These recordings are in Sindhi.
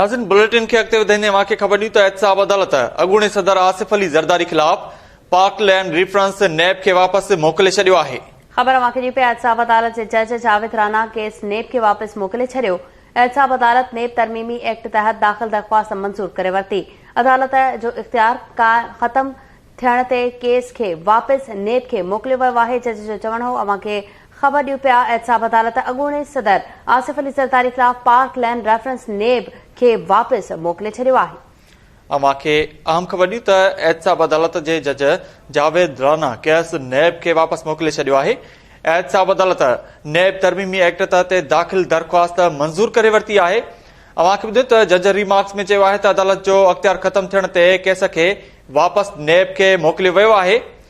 ناظرين بليٽن کي اڳتي وڌائيندي اوهان کي خبر ڏيون ته احتساب عدالت اڳوڻي صدر آصف علي زرداري خلاف پاڪ لينڊ ريفرنس، نيب، کي واپس موڪلي ڇڏيو آهي. خبر اوهان کي ڏيون پيا احتساب عدالت جي جج جاويد رانا ڪيس نيب کي واپس موڪلي ڇڏيو احتساب عدالت نيب ترميمي ايڪٽ تحت داخل درخواست منظور ڪري ورتي عدالت جو اختيار ختم ٿيڻ تي ڪيس کي واپس نيب کي موڪليو ويو آهي جج جو چوڻ هو اوهان کي خبر ڏيون پيا احتساب عدالت اڳوڻي صدر آصف علي زرداري خلاف پارڪ لين ريفرنس نيب کي واپس موڪلي ڇڏيو آهي. اوهان کي اهم خبر ڏيون ته احتساب عدالت جي جج جاويد رانا ڪيس نيب کي واپس موڪلي ڇڏيو آهي. احتساب عدالت نيب ترميمي ايڪٽ تحت داخل درخواست منظور ڪري ورتي آهي. اوهان کي ٻڌيون ته جج ريمارڪس ۾ چيو آهي ته عدالت جو اختيار ختم ٿيڻ تي ڪيس کي واپس نيب کي موڪليو ويو آهي.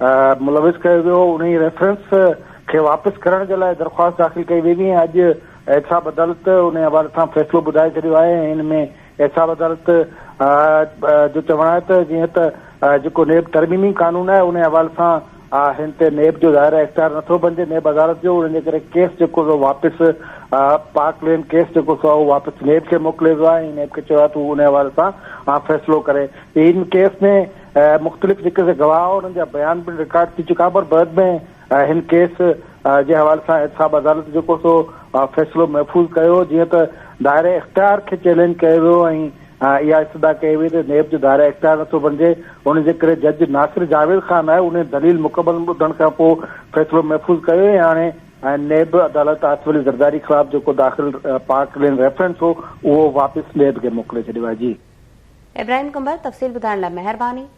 ملوث ڪيو ويو، انهي ريفرنس کي واپس ڪرڻ جي لاء درخواست داخل ڪئي وئي هئي ۽ اڄ احتساب عدالت انهي حوالي سان فيصلو ٻڌائي ڇڏيو آهي ۽ ان ۾ احتساب عدالت جو چوڻ آهي ته جيئن ته جيڪو نيب ترميمي قانون آهي انهي حوالي سان هن تي نيب جو ظاهر اختيار نٿو بنجي نيب عدالت جو ان جي ڪري ڪيس جيڪو سو واپس پارڪ لين ڪيس جيڪو سو اهو واپس نيب کي موڪليو ويو آهي ۽ نيب کي چيو آهي ته هو انهي حوالي سان فيصلو ڪري ان ڪيس ۾ مختلف جيڪي سي گواهه هئا انهن جا بيان پڻ رڪارڊ ٿي چڪا پر بعد ۾ هن ڪيس جي حوالي سان احتساب عدالت جيڪو سو فيصلو محفوظ ڪيو جيئن ته دائره اختيار کي چئلينج ڪيو ويو ۽ اها استدعا ڪئي وئي ته نيب جو دائره اختيار نٿو بڻجي ان جي ڪري جج ناصر جاويد خان آهي انهي دليل مڪمل ٻڌڻ کان پوء فيصلو محفوظ ڪيو ۽ هاڻي ۽ نيب عدالت آصف علي زرداري خلاف جيڪو داخل پارڪ لين ريفرنس هو اهو واپس نيب کي موڪلي ڇڏيو آهي. جي. ابراهيم قنبر تفصيل ٻڌائڻ لاء مهرباني.